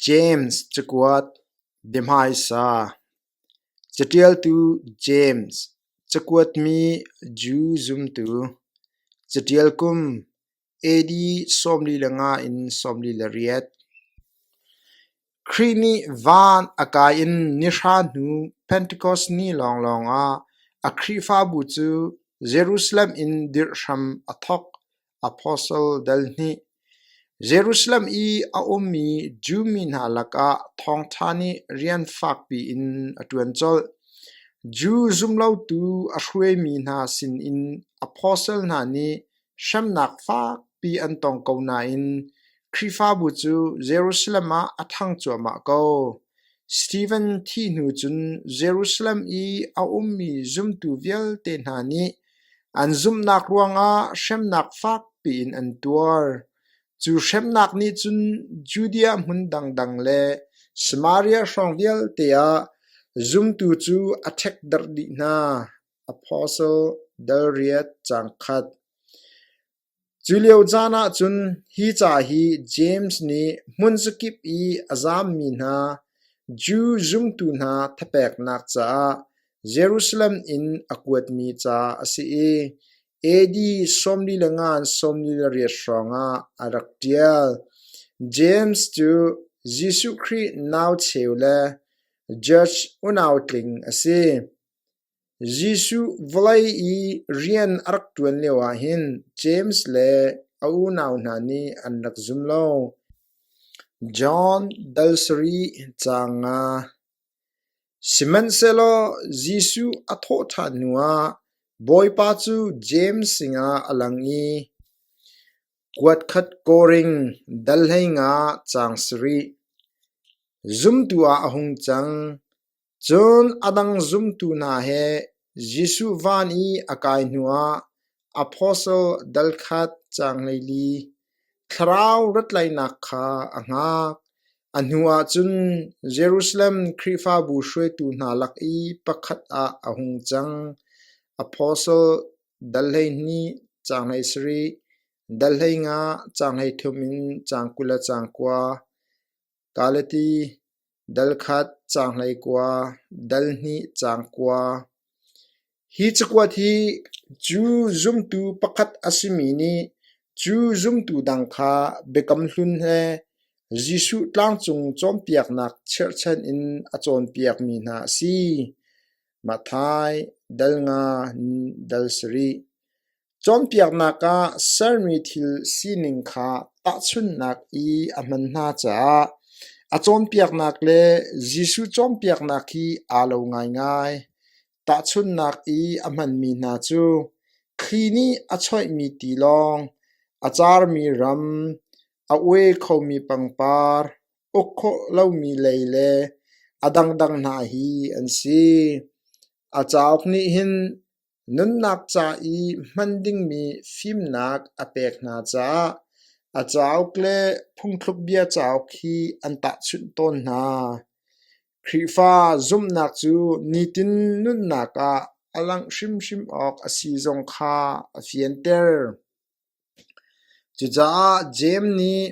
James cakuat biahmaisa Caṭialtu James Cakuatmi Jew zumtu Caṭial kum AD sawmli le nga in sawmli le riat Khrih nih van a kai in nihra hnu Pentecost ni lawnglawng ah a Khrihfabu cu Jerusalem in dirh hram a thawk. Apostle dal nih Jerusalem i a ummi Jew mi hna lakah thawngṭha nih rian fakpi in a ṭuan colh. Jew zumlotu a hruaimi hna sinin apostle hna nih hremnak fakpi an tong ko nain Khrihfabu cu Jerusalem ah a ṭhang cuahmah ko. Stephen thi hnu cun Jerusalem i a ummi zumtu vialte hna nih An zumhnak ruangah hremnak fakpi in an tuar. Cu hremnak nih cun Judea hmun dangdang le Samaria hrawng vialte ah zumtu cu a ṭhekdarh dih hna. Apostle dal riat caang khat. Culio caan ahcun hi ca hi James nih hmunkip i a zammi hna Jew zumtu hna thapeknak caah Jerusalem in a kuatmi ca a si i AD sawmli le ngan sawmli le riat hrawngah a rak ṭial. James cu Jesuh Khrih nau cheu le Judge unautling a si. Jesuh vawlei i rian a rak ṭuan lioah hin James le a unau hna nih an rak zum lo. John dal sarih ca nga Sihmanhsehlaw Jesuh a thawh ṭhan hnuah Bawipa cu James sinah a lang i, “Kuatkhat kawring dal hleinga caang sarih, zumtu ah a hung cang. Cun a dang zumtu hna he Jesuh van i a kai hnuah apostle dal khat caangleili, thlarau rattlainak kha a hngak. A hnuah cun Jerusalem Khrihfabu hruaitu hna lak i pakhat ah a hung cang. Apostle dal hleihnih caanglei sarih, dal hleinga caanglei thum in caang kul le caang kua, Ka le ti dal khat caang hlei kua, dal hnih caang kua. Hi cakuat hi cu zumtu pakhat a simi nih cu zumtu dang kha Biakam Hlun le Jesuh tlangcung cawnpiaknak cherhchan in a cawnpiakmi hna a si. Mathai dal nga in dal sarih. Cawnpiaknak ah sermi thil sining kha tahchunhnak i a hman hna caah a cawnpiaknak le Jesuh cawnpiaknak hi aa lo ngaingai. Tahchunhnak i a hmanmi hna cu thli nih a choihmi tilawng, a carmi ram, a ue khomi pangpar, uk khawh lomi lei le a dangdang hna hi an si. A cauk nih hin Nunnak ca i hman dingmi fimnak a pek hna caah a cauk le phungthlukbia cauk hi an tahchunh tawn hna. Khrihfa zumhnak cu nitin nunnak ah a langh hrimhrim awk a si zong kha a fianter. Cucaah Jeim nih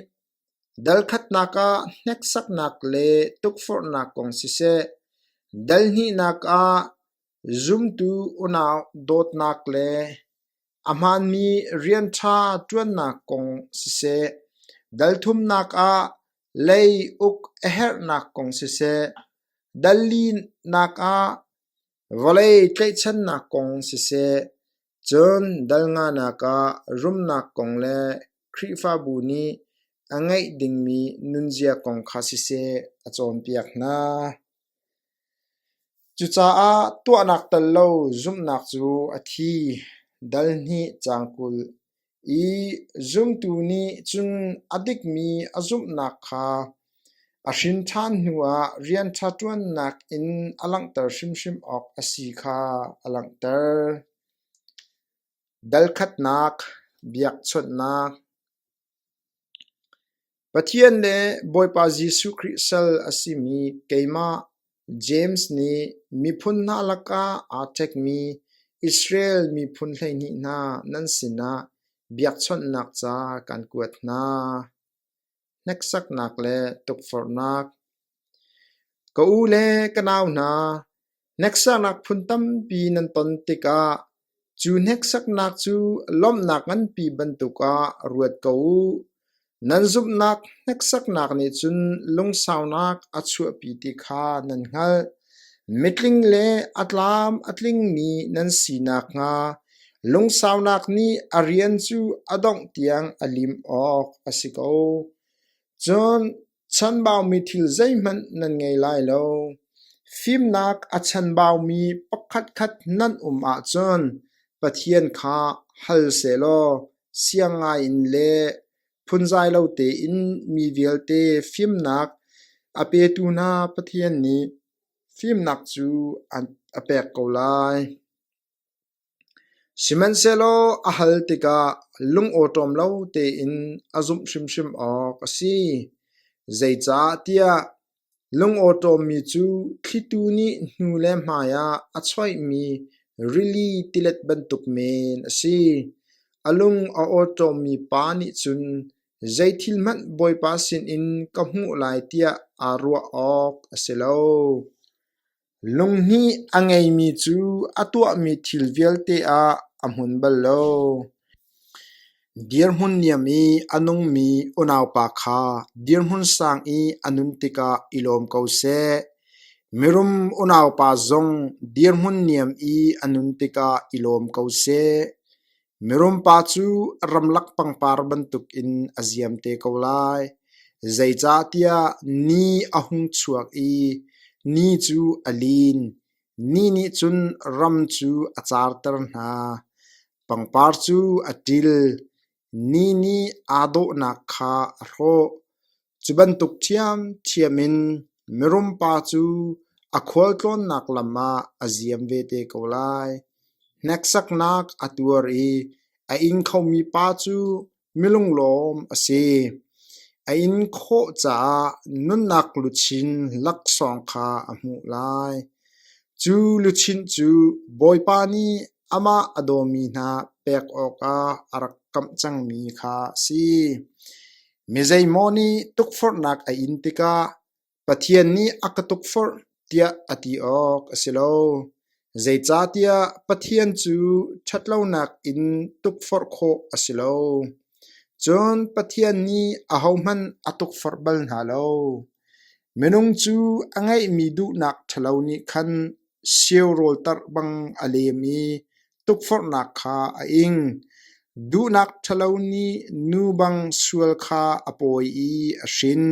dalkhatnak ah hneksaknak le tukforhnak kong siseh, dalhnihnak ah Zumtu unau dawtnak le a hmaanmi rian ṭha ṭuannak kong siseh, dalthumnak ah lei uk a herhnak kong siseh, dal linak ah vawlei tlaihchannak kong siseh, Cun dalnganak ah rumnak kong le Khrihfabu nih a ngeih dingmi nunzia kong kha siseh a cawnpiak hna. Cucaah tuahnak tel lo zumhnak cu a thi, dal hnih cang kul. I zumtu nih cun a dikmi a zumhnak kha a hrinthan hnuah rianṭha ṭuannak in a langhter hrimhrim awk a si kha a langhter. Dalkhatnak, biakchawnhnak, Pathian le Bawipa Jesuh Khrih sal a simi keimah James nih miphun hna lakah aa ṭhekmi Israel miphun hleihnih hna nan sinah biakchawnhnak ca kan kuat hna. Hneksaknak le tukforhnak. Ka u le ka nau hna, Hneksaknak phun tampi nan ton tikah cu hneksaknak cu lawmhnak nganpi bantuk ah ruat ko u. Nan zumhnak hneksaknak nih cun lungsaunak a chuahpi ti kha nan hngalh. Mitling le a tlam a tlingmi nan si nakhnga lungsaunak nih a rian cu a dongh tiang a lim awk a si ko. Cun Chanbaumi thil zeihmanh nan ngei lai lo. Fimnak a chanbaumi pakhatkhat nan um ahcun Pathian kha hal sehlaw siang ngaiin le phunzai lo tein mi vialte fimnak a petu hna Pathian nih fimnak cu a pek ko lai. Sihmanhsehlaw a hal tikah lungawṭawm lo tein a zumh hrimhrim awk a si. Zeicahtiah lungawṭawmmi cu thlitu nih hnu le hmaiah a choihmi rili tilet bantuk men a si. A lung a awṭawmmi pa nih cun zeithil hmanh Bawipa sinin ka hmuh lai tiah aa ruah awk a si lo. Lunghnih a ngeimi cu a tuahmi thil vialte ah a hmun bal lo. Dirhmun niam i a nungmi unaupa kha dirhmun sang i a nun tikah i lawm ko seh. Mirum unaupa zong dirhmun niam i a nun tikah i lawm ko seh. Mirum pa cu a ramlak pangpar bantukin a ziam te ko lai, zeicahtiah ni a hung chuak i ni cu a lin. Ni nih cun ram cu a carter hna, pangpar cu a ṭil. Ni nih aa dawhnak kha a hrawh. Cu bantuk ṭhiamṭhiam in mirum pa cu a khualtlawnnak lam ah a ziam ve te ko lai. Hneksaknak a tuar i a ing khomi pa cu milunglawm a si. A in khawh caah nunnak luchin laksawng kha a hmuh lai. Cu luchin cu Bawipa nih amah a dawmi hna pek awkah a rak kamh cangmi kha a si. Mizeimaw nih tukforhnak a in tikah Pathian nih a ka tukforh tiah a ti awk a si lo, zeicahtiah Pathian cu ṭhatlonak in tukforh khawh a si lo. Cun Pathian nih ahohmanh a tukforh bal hna lo. Minung cu a ngeihmi duhnak ṭhalo nih khan Seu rawltarh bang a lem i tukforhnak kha a ing; duhnak ṭhalo nih nu bang sual kha a pawi i a hrin;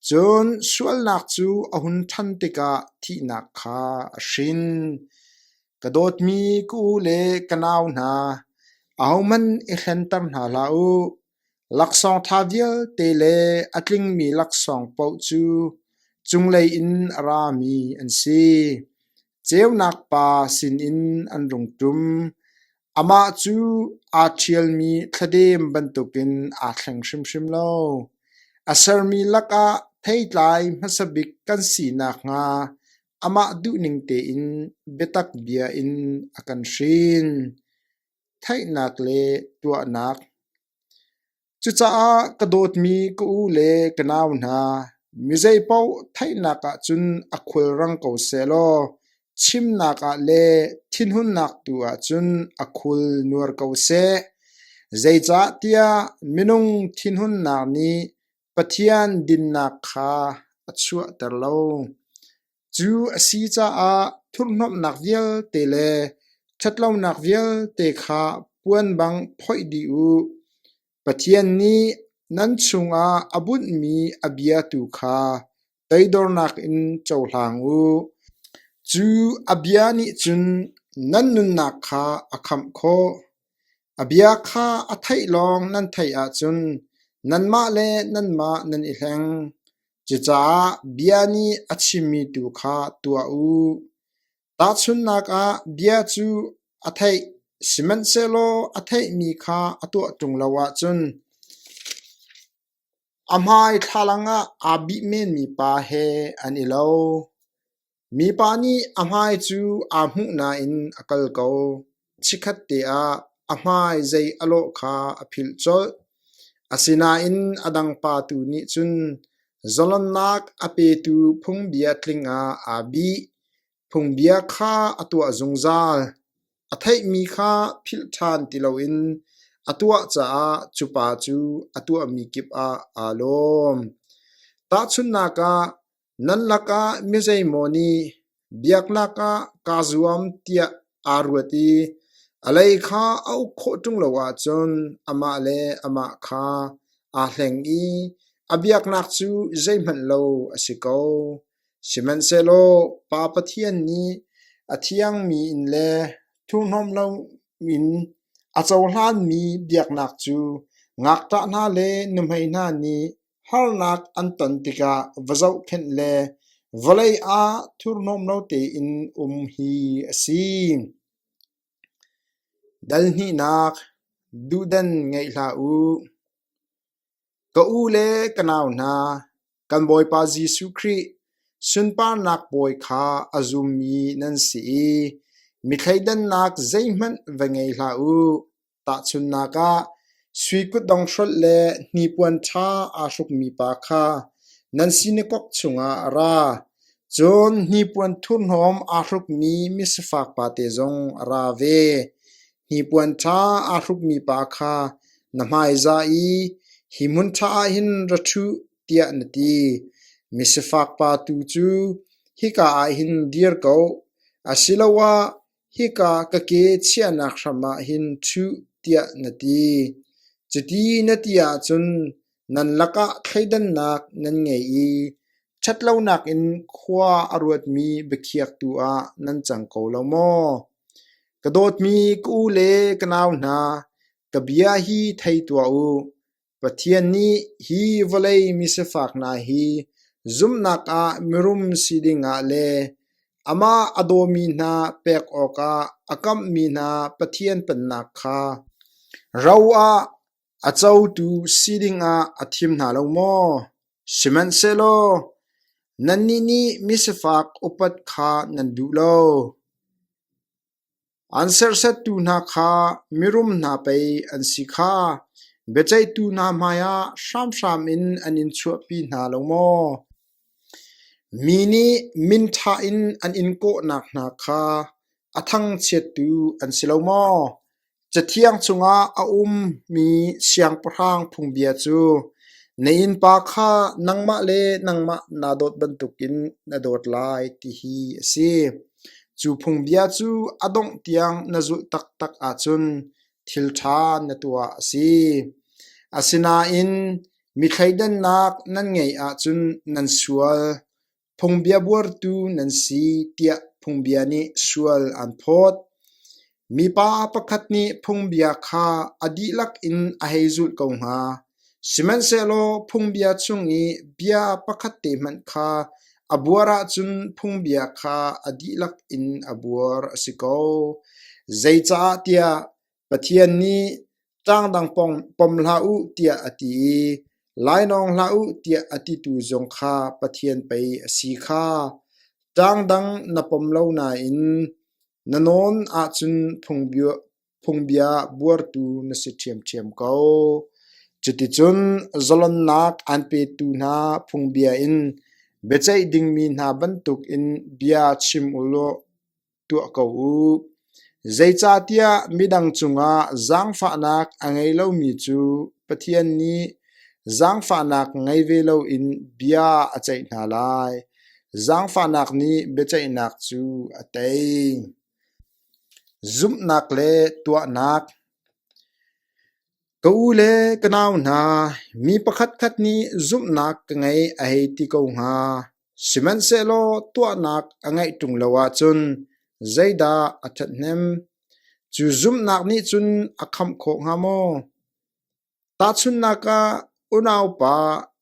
cun sualnak cu a hun ṭhan tikah thihnak kha a hrin. Ka dawtmi ka u le ka nau hna, ahohmanh i hlenter hna hlah u. Laksawng ṭha vialte le a tlingmi laksawng paoh cu cunglei in a rami an si. Ceunak pa sinin an rung ṭum; amah cu aa ṭhialmi thladem bantukin aa thleng hrimhrim lo. A sermi lakah theitlai hmasa bik kan si nakhnga amah duhning tein biatak bia in a kan hrin. Theihnak le tuahnak Cucaah ka dawtmi ka u le ka nau hna, mizei paoh theihnak ah cun a khulrang ko sehlaw chimnak ah le thinhunnak tu ah cun a khul nuar ko seh. Zeicahtiah minung thinhunnak nih Pathian dinnak kha a chuahter lo. Cu a si caah thurhnomhnak vialte le ṭhatlonak vialte kha puan bang phoih dih u. Pathian nih nan chungah a bunhmi a bia tu kha Toidornak in cohlang u; cu a bia nih cun nan nunnak kha a khamh khawh. A bia kha a theih lawng nan theih ahcun nanmah le nanmah nan i hleng. Cucaah bia nih a chimmi tu kha tuah u. Tahchunhnak ah, bia cu a theih, sihmanhsehlaw a theihmi kha a tuah ṭung lo ahcun, A hmai thlalang ah aa bih menmi pa he an i lo. Mipa nih a hmai cu aa hmuh nain a kal ko. Chikkhat te ah a hmai zei a lawh kha a philh colh. Asinain a dang pa tu nih cun zalonnak a petu phungbia tling ah aa bih. Phungbia kha a tuah zungzal, a theihmi kha philh ṭhan ti loin a tuah caah cupa cu a tuahmi kip ah aa lawm. Tahchunhnak ah, nan lakah mizeimaw nih biaknak ah kaa zuam tiah aa ruat i a lei kha a uk khawh ṭung lo ahcun amah le amah kha aa hleng i a biaknak cu zeihmanh lo a si ko. Sihmanhsehlaw Pa Pathian nih a thiangmi in le thurhnawm loin a cohlanmi biaknak cu ngakṭah hna le nuhmei hna nih harnak an ton tikah va zohkhenh le vawlei ah thurhnawm lo tein um hi a si. Dalhnihnak, duhdan ngeih hlah u. Ka u le ka nau hna, kan Bawipa Jesuh Khrih sunparnak bawi kha a zummi nan si i mi thleidannak zeihmanh va ngei hlah u. Tahchunhnak ah, sui kutdong hrolh le hnipuan ṭha aa hrukmi pa kha nan sinakok chungah a ra, cun hnipuan thurhnawm aa hrukmi misafak pate zong a ra ve. Hnipuan ṭha aa hrukmi pa kha na hmaizah i hi hmun ṭha ah hin ra ṭhuh, tiah na ti. Misifak pa tu cu hika ah hin dir ko, asiloah hika ka ke chiahnak hram ah hin ṭhuh, tiah na ti. Cuti na ti ahcun Nan lakah thleidannak nan ngei i ṭhatlonak in khua a ruatmi biakhiaktu ah nan cang ko lo maw? Ka dawtmi ka u le ka nau hna, ka bia hi thei tuah u. Pathian nih hi vawlei misifak hna hi zumhnak ah mirum si dingah le amah a dawmi hna pek awkah a kamhmi hna Pathian pennak kha ro ah A cotu si dingah a thim hna lo maw? Sihmanhsehlaw nannih nih misifak upat kha nan duh lo. An sersettu hna kha mirum hna pei an si kha biaceihtu hna hmaiah hramhram in an in chuahpi hna lo maw? Mi nih minṭha in an in kawh nakhnga kha a thangchiattu an si lo maw? Cathiang chungah a ummi siangpahrang phungbia cu na innpa kha nangmah le nangmah naa dawt bantukin na dawt lai ti hi a si. Cu phungbia cu a dongh tiang na zulh taktak ahcun thil ṭha na tuah a si. Asinain mi thleidannak nan ngeih ahcun nan sual. Phungbia buartu nan si tiah phungbia nih sual aan phawt. Mipa pakhat nih phungbia kha a dihlak in a hei zulh ko hnga. Sihmanhsehlaw phungbia chung i bia pakhat te hmanh kha a buar ahcun phungbia kha a dihlak in a buar a si ko. Zeicaahtiah Pathian nih ṭangdang pom hlah u tiah a ti i lainawng hlah u tiah a titu zong kha Pathian pei a si kha ṭangdang na pom lo nain na nawn ahcun phungbia buartu na si ṭhiamṭhiam ko. Cuticun zalonnak aan petu hna phungbia in biaceih dingmi hna bantukin bia chim u law, tuah ko u. Zeicahtiah midang cungah zaangfahnak a ngei lomi cu Pathian nih zaangfahnak ngei ve loin bia a ceih hna lai. Zaangfahnak nih biaceihnak cu a tei. Zumhnak le tuahnak Ka u le ka nau hna, mi pakhatkhat nih zumhnak ka ngei a hei ti ko hnga. Sihmanhsehlaw tuahnak a ngeih ṭung lo ahcun zeidah a ṭhathnem? Cu zumhnak nih cun a khamh khawh hnga maw? Tahchunhnak ah, unaupa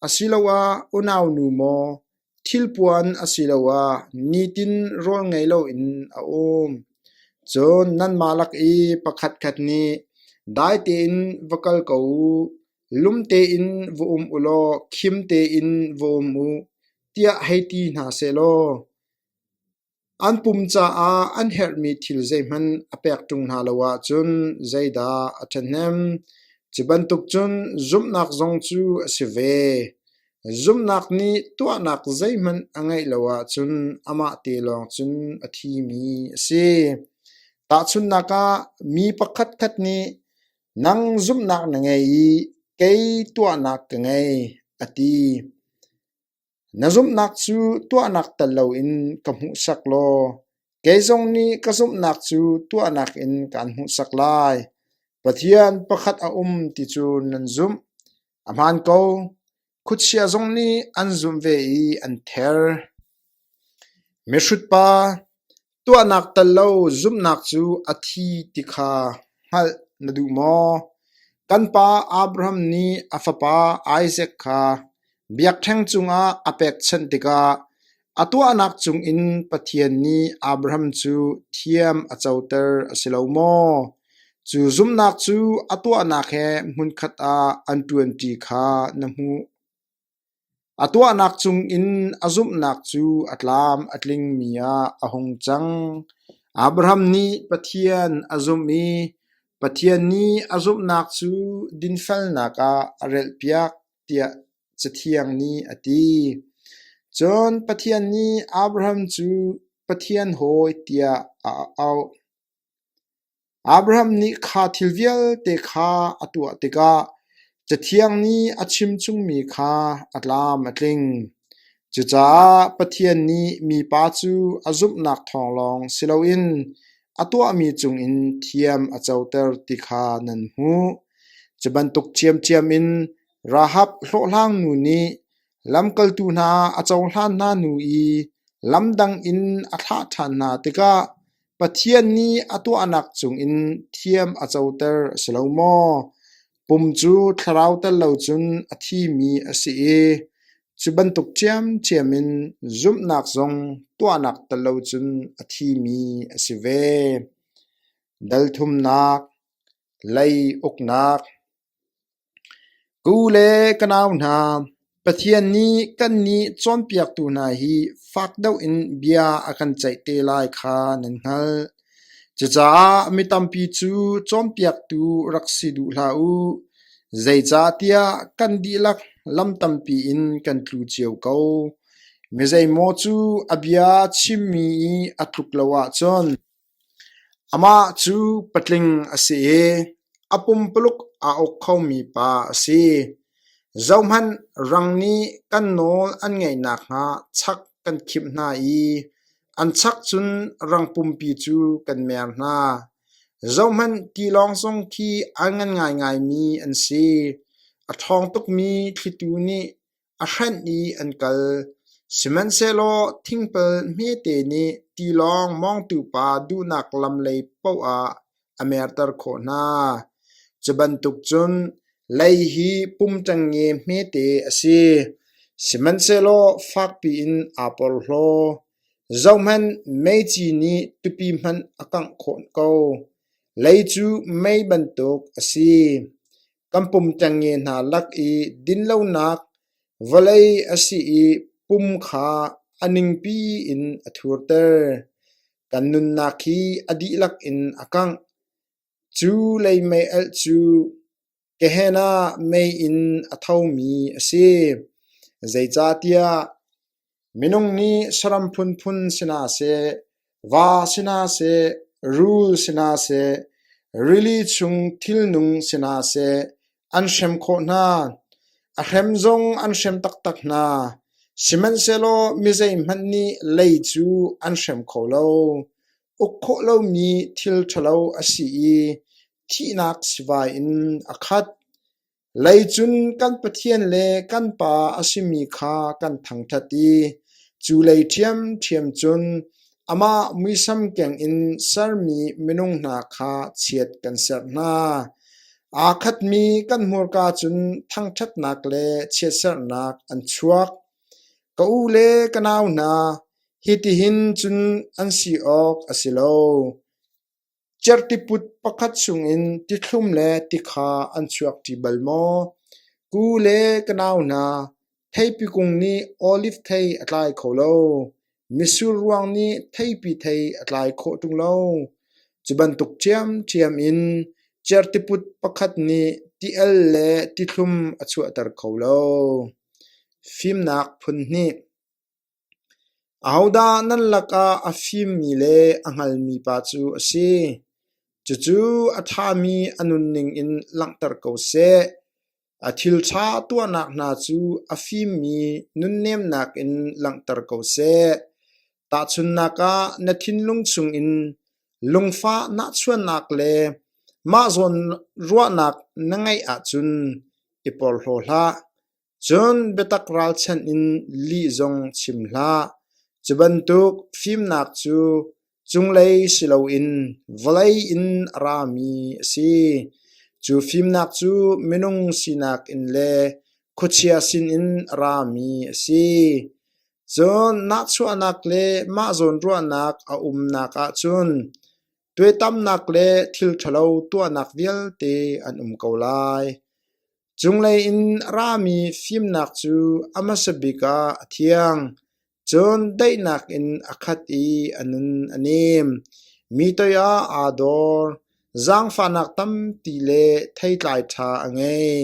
asiloah unaunu maw thilpuan asiloah nitin rawlngei loin a um. Cun nanmah lak i pakhatkhat nih dai tein va kal ko u. Lum tein va um u law khim tein va um u, tiah hei ti hna sehlaw, an pum caah an herhmi thil zeihmanh a pek ṭung hna lo ahcun zeidah a ṭhahnem? Cu bantuk cun zumhnak zong cu a si ve. Zumhnak nih tuahnak zeihmanh a ngeih lo ahcun amah te lawng cun a thimi a si. Tahchunhnak ah, mi pakhatkhat nih Nang zumhnak na ngei i kei tuahnak ka ngei, a ti. Na zumhnak cu tuahnak tal loin ka hmuhsak law kei zong nih ka zumhnak cu tuahnak in kaan hmuhsak lai. Pathian pakhat a um ti cu nan zumh. A hmaan ko. Khuachia zong nih an zumh ve i an ther. Mihrut pa, tuahnak tal lo zumhnak cu a thi ti kha hngalh na duh maw? Kan pa Abraham nih a fapa Isaak kha biakṭheng cungah a pekchanh tikah A tuahnak cungin Pathian nih Abraham cu thiam a coter a si lo maw? Cu zumnak cu a tuahnak he hmunkhat ah an ṭuanṭi kha na hmuh. A tuahnak cungin a zumhnak cu a tlam a tlingmi ah a hung cang. Abraham nih Pathian a zumh i Pathian nih a zumhnak cu dinfelnak ah a relhpiak. tiah Cathiang nih a ti. Cun Pathian nih Abraham cu Pathian hawi tiah a auh. Abraham nih kha thil vialte kha a tuah tikah Cathiang nih a chimchungmi kha a tlam a tling. Cucaah Pathian nih mipa cu a zumhnak thawng lawng si loin a tuahmi cungin thiam a coter ti kha nan hmuh. Cu bantuk ṭhiamṭhiam in Rahab hlawhhlang nu nih lamkaltu hna a cohlan hna hnu i lam dang in a thlah ṭhan hna tikah Pathian nih a tuahnak cungin thiam a coter a si lo maw? Pum cu thlarau tel lo cun a thimi a si i cu bantuk ṭhiamṭhiam in zumhnak zong tuahnak tel lo cun a thimi a si ve. Dal thumnak Lei uknak Ku le ka nau hna, Pathian nih kannih cawnpiaktu hna hi fak deuh in bia a kan ceih te lai kha nan hngalh. Cucaah mi tampi cu cawnpiaktu rak si duh hlah u, zeicahtiah kan dihlak lam tampi in kan tlu cio ko. Mizeimaw cu a bia chimmi i a tluk lo ahcun, Amah cu patling a si i a pumpaluk aa uk khomi pa a si. Zohhmanh, rang nih kan nawl an ngaih nakhnga chak kan khimh hna i an chak cun rang pumpi cu kan mer hna. Zohhmanh, tilawng zong khi an ngan ngaingaimi an si. A ṭhawng tukmi thlitu nih a hrenh i an kal. Sihmanhsehlaw thingpil hmete nih tilawng mawngtu pa duhnak lam lei paoh ah a merter khawh hna. Cu bantuk cun lei hi pum ṭengnge hmete a si, sihmanhsehlaw fakpi in aa porhlaw. Zohhmanh, meici nih tupi hmanh a kangh khawh ko. Lei cu mei bantuk a si. Kan pum ṭengnge hna lak i dinlonak vawlei a si i pum kha a ningpi in a thurter. Kan nunnak hi a dihlak in a kangh. Cu lei meialh cu Gehenna mei in a thomi a si. Zeicahtiah Minung nih saram phunphun si hna seh, va si hna seh, rul si hna seh, rili chung thilnung si hna seh, an hrem khawh hna. A hrem zong an hrem taktak hna. Sihmanhsehlaw mizeihmanh nih lei cu an hrem kho lo. Uk khawh lomi thil ṭhalo a si i thihnak sivai in a khat. Lei cun kan Pathian le kan Pa a simi kha kan thangṭhat i cu lei ṭhiamṭhiam cun amah muisam kengin sermi minung hna kha chiat kan serh hna. Aa khatmi kan hmurka cun thangṭhatnak le chiatserhnak an chuak. Ka u le ka nau hna, hitihin cun an si awk a si lo. Cerhtiput pakhat chungin tithlum le tikha an chuak ti bal maw? Ku le ka nau hna, theipi kung nih olive thei a tlai kho lo. Misur ruang nih theipi thei a tlai khawh ṭung lo. Cu bantuk ṭhiamṭhiam in cerhtiput pakhat nih ti-el le tithlum a chuahter kho lo. Fimnak phun hnih Ahodah nan lakah a fimmi le a hngalmi pa cu a si? Cucu a ṭhami a nunning in langhter ko seh. A thilṭha tuahnak hna cu a fimmi nunnemnak in langhter ko seh. Tahchunhnak ah, na thinlung chungin lungfah nahchuahnak le mah zawn ruahnak na ngeih ahcun i porhlaw hlah. Cun biatak ralchanh in lih zong chim hlah; cu bantuk fimnak cu cunglei si loin vawlei in a rami a si. Cu fimnak cu minung sinak in le khuachia sinin a rami a si. Cun nahchuahnak le mah zawnruahnak a umnak ah cun Tuaitamnak le thil ṭhalo tuahnak vialte an um ko lai. Cunglei in a rami fimnak cu a hmasa bik ah a thiang, cun daihnak in a khat i a nun a nem. Mi toiah aa dor, zaangfahnak tampi le theitlai ṭha a ngei.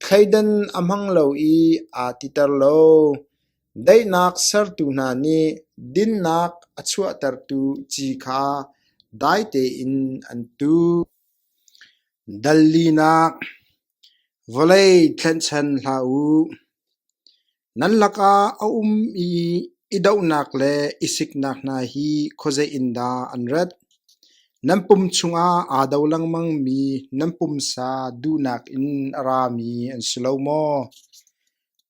Thleidan a hmang lo i aa titer lo. Daihnak sertu hna nih dinnak a chuahtertu ci kha dai tein an tuh. Dal linak vawlei tlenhchan hlah u. Nan lakah a um i i dohnak le i siknak hna hi khuazei in dah an rat? Nan pum chungah aa do lengmangmi nan pumsa duhnak in a rami an si lo maw?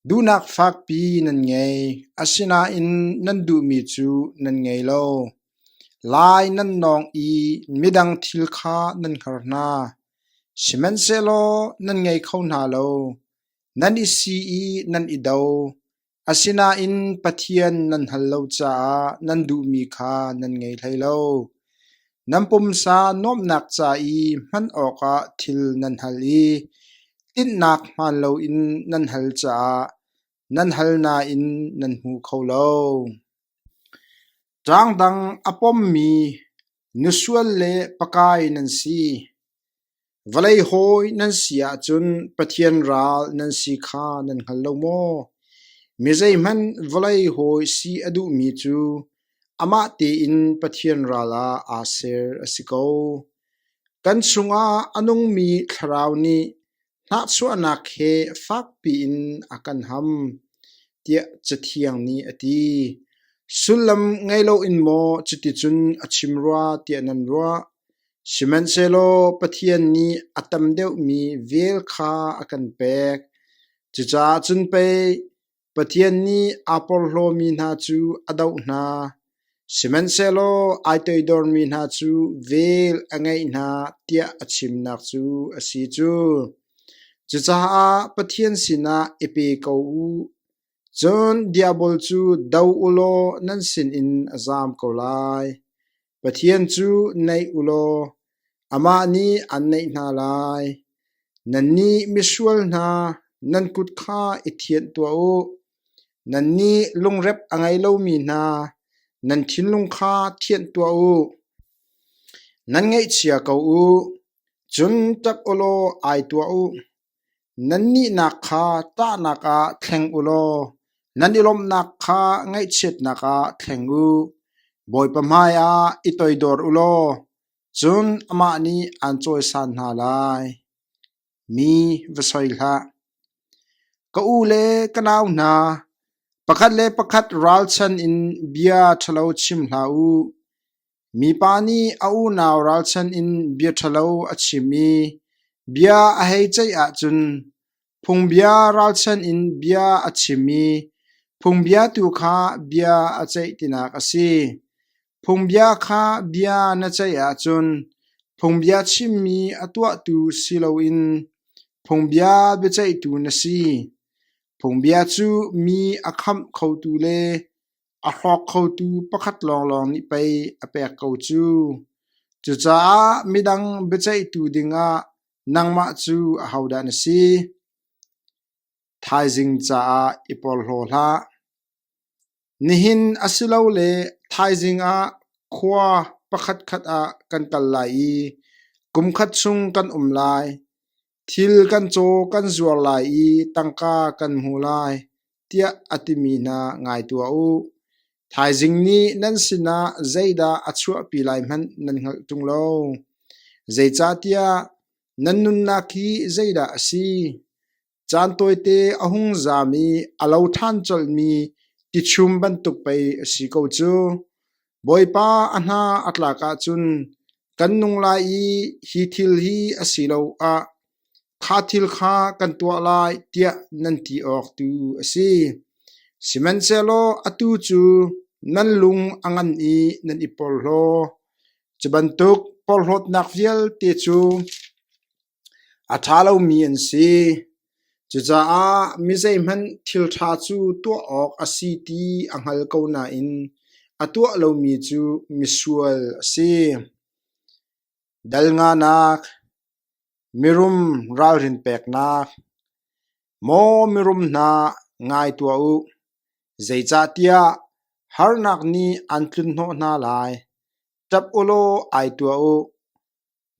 Duhnak fakpi nan ngei, asinain nan duhmi cu nan ngei lo. Lai nan nawng i midang thil kha nan hngar hna; sihmanhsehlaw nan ngei kho hna lo. Nan i si i nan i do, asinain Pathian nan hngal lo caah nan duhmi kha nan ngei hlei lo. Nan pumsa nuamhnak ca i hman awkah thil nan hal i tinhnak hmaan loin nan hal caah nan hal nain nan hmu kho lo. Ṭangdang a pommi nu sual le pakai nan si. Vawlei hawi nan si ahcun Pathian ral nan si kha nan hngal lo maw? Mi zeihmanh vawlei hawi si a duhmi cu amah tein Pathian ral ah aa ser a si ko. Kan chungah a nungmi thlarau nih hnahchuahnak he fakpi in a kan ham, tiah Cathiang nih a ti. Sullam ngei loin maw cuticun a chim rua tiah nan ruah? Sihmanhsehlaw Pathian nih a tam deuhmi vel kha a kan pek. Cucaah cun pei Pathian nih aa porhlawmi hna cu a doh hna; sihmanhsehlaw ai toidormi hna cu vel a ngeih hna tiah a chimnak cu a si cu. Cucaah Pathian sinah i pe ko u. Cun Diabol cu do u law nan sinin a zaam ko lai. Pathian cu neih u law amah nih aan neih hna lai. Nannih misual hna, nan kut kha i thianh tuah u. Nannih lungrep a ngei lomi hna, nan thinlung kha thianh tuah u. Nan ngaihchia ko u, cun ṭap u law ai tuah u. Nanihnak kha ṭahnak ah thleng u law nan i lawmhnak kha ngaihchiatnak ah thleng u. Bawipa hmaiah i toidor u law cun amah nih aan cawisan hna lai. Mi va soi hlah. Ka u le ka nau hna, pakhat le pakhat ralchan in bia ṭhalo chim hlah u. Mipa nih a unau ralchan in bia ṭhalo a chim i bia a hei ceih ahcun phungbia ralchan in bia a chim i phungbia tu kha bia a ceih tinak a si. Phungbia kha bia na ceih ahcun phungbia chimmi a tuahtu si loin phungbia biaceihtu na si. Phungbia cu mi a khamh khotu le A hrawk khotu pakhat lawnglawng nih pei a pek ko cu. Cucaah midang biaceihtu dingah nangmah cu ahodah na si? Thaizing caah i porhlaw hlah. Nihin asilole thaizing ah khua pakhatkhat ah kan kal lai i kumkhat chung kan um lai. Thil kan caw kan zuar lai i tangka kan hmu lai, tiah a timi hna ngai tuah u. Thaizing nih nan sinah zeidah a chuahpi lai hmanh nan hngalh ṭung lo. Zeicahtiah nan nunnak hi zeidah a si? Caan tawite a hung zam i a lo ṭhan colhmi tichum bantuk pei a si ko cu. Bawipa a hna a tlak ahcun kan nung lai i hi thil hi a si lo ah kha thil kha kan tuah lai tiah nan ti awk tu a si. Sihmanhsehlaw atu cu nan lung a ngan i nan i porhlaw. Cu bantuk porhlawtnak vialte cu A ṭha lomi an si. Cucaah mi zeihmanh thil ṭha cu tuah awk a si ti a hngal ko nain a tuah lomi cu misual a si. Dal nganak, mirum ralrin peknak, maw mirum hna ngai tuah u, zeicahtiah harnak nih an tlunhnawh hna lai. Ṭap ulaw ai tuah u.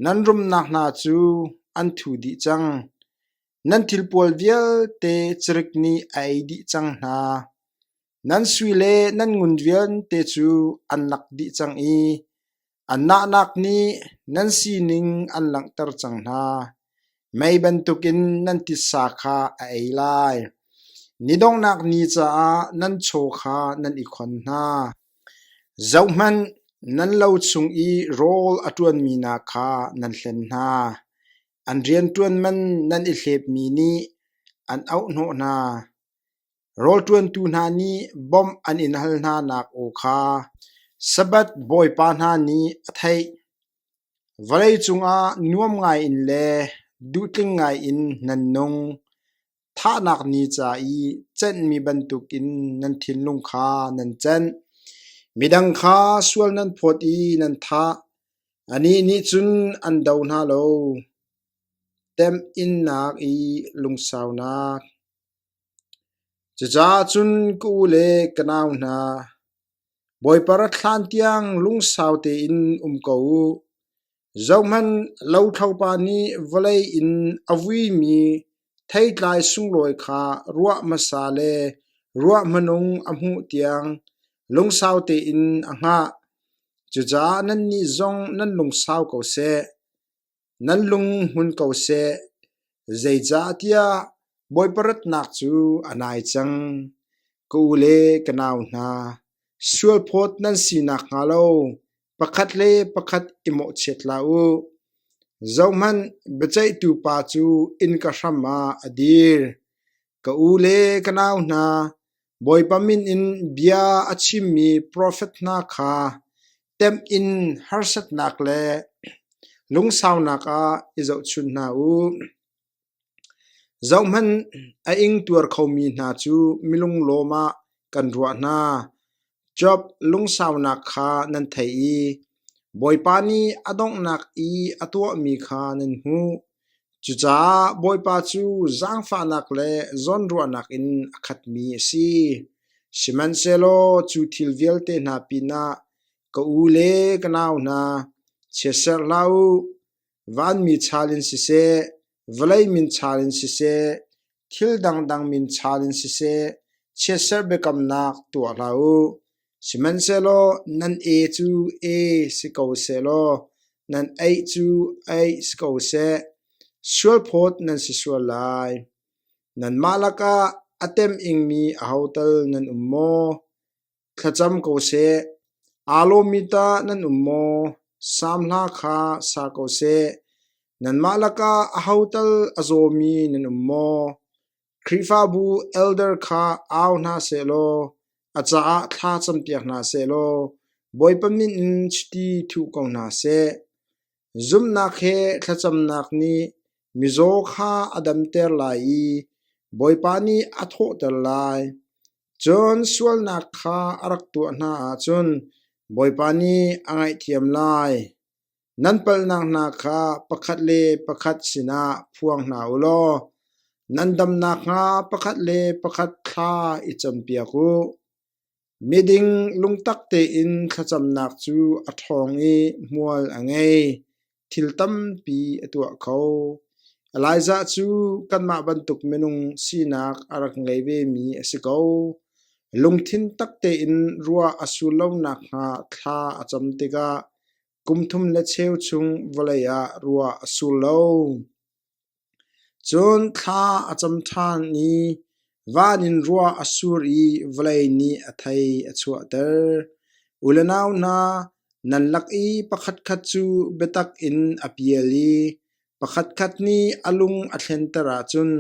Nan rumnak hna cu an thu dih cang; nan thil pawl vialte carik nih a ei dih cang hna. Nan sui le nan ngun vialte cu an lak dih cang i an nahnak nih nan sining an langhter cang hna. Mei bantukin nan titsa kha a ei lai; ni donghnak ni caah nan chaw kha nan i khon hna. Zohhmanh, nan lo chung i rawl a ṭuanmi hna kha nan hlen hna; an rianṭuanman nan i hlepmi nih an oahhnawh hna. Rawlṭuantu hna nih bawmh an in hal hnanak aw kha Sabbath Bawipa hna nih a theih. Vawlei cungah nuam ngaiin le duhtling ngaiin nan nung. Thahnak ni ca i cenhmi bantukin nan thinlung kha nan cenh. Midang kha sual nan phawt i nan thah. Anih nih cun an do hna lo. Temhinnak i lungsaunak. Cucaah cun ka u le ka nau hna, Bawipa rat hlan tiang lungsau tein um ko u. Zohhmanh, lothlopa nih vawlei in a vuimi theitlai sunglawi kha ruah hmasa le ruah hmanung a hmuh tiang lungsau tein a hngah. Cucaah nannih zong nan lungsau ko seh, nan lung hmun ko seh, zeicahtiah Bawipa ratnak cu a nai cang. Ka u le ka nau hna, sualphawt nan si nakhnga lo pakhat le pakhat i mawhchiat hlah u. Zohhmanh, biaceihtu pa cu innka hram ah a dir. Ka u le ka nau hna, Bawipa min in bia a chimmi profet hna kha temh in harsatnak le lungsaunak ah i zohchunh hna u. Zohhmanh, a ingtuar khomi hna cu mi lunglawm ah kan ruah hna. Job lungsaunak kha nan thei i Bawipa nih a donghnak i a tuahmi kha nan hmuh. Cucaah Bawipa cu zaangfahnak le zawnruahnak in a khatmi a si. Sihmanhsehlaw cu thil vialte hna pinah ka u le ka nau hna, chiatserh hlah u. Vanmi chal in siseh, vawlei min chal in siseh, thil dangdang min chal in siseh, chiatserh biakamnak tuah hlah u. Sihmanhsehlaw nan e cu e si ko sehlaw nan eih cu eih si ko seh. Sualphawt nan si sual lai. Nanmah lakah a tem ingmi ahotal nan um maw? Thlacam ko seh. Aa lawmmi tah nan um maw? Sam hla kha sa ko seh. Nanmah lakah aho tal a zawmi nan um maw? Khrihfabu elder kha au hna sehlaw a caah thla campiak hna sehlaw Bawipa min in chiti thuh ko hna seh. Zumhnak he thlacamnak nih mizaw kha a damter lai i Bawipa nih a thawhter lai. Cun sualnak kha a rak tuah hna ahcun Bawipa nih a ngaihthiam lai. Nan palhnak hna kha pakhat le pakhat sinah phuang hna u law nan dam nakhnga pakhat le pakhat thla i campiak u. Miding lungtak tein thlacamnak cu a ṭhawng i hmual a ngei. thil tampi a tuah kho. Elijah cu kanmah bantuk minung sinak a rak ngei vemi a si ko. Lungthin tak tein ruah a sur lo nakhnga thla a cam tikah kum thum le cheu chung vawlei ah ruah a sur lo. Cun thla a cam ṭhan i van in rua a sur i vawlei nih a thei a chuahter. U le nau hna, nan lak i pakhatkhat cu biatak in a pial i pakhatkhat nih a lung a thlenter ahcun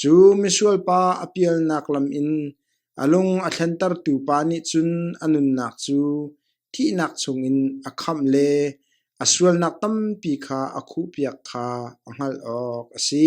cu misual pa a pialnak lam in a lung a thlentertu pa nih cun a nunnak cu thihnak chungin a khamh le a sualnak tampi kha a khuhpiak kha a hngalh awk a si.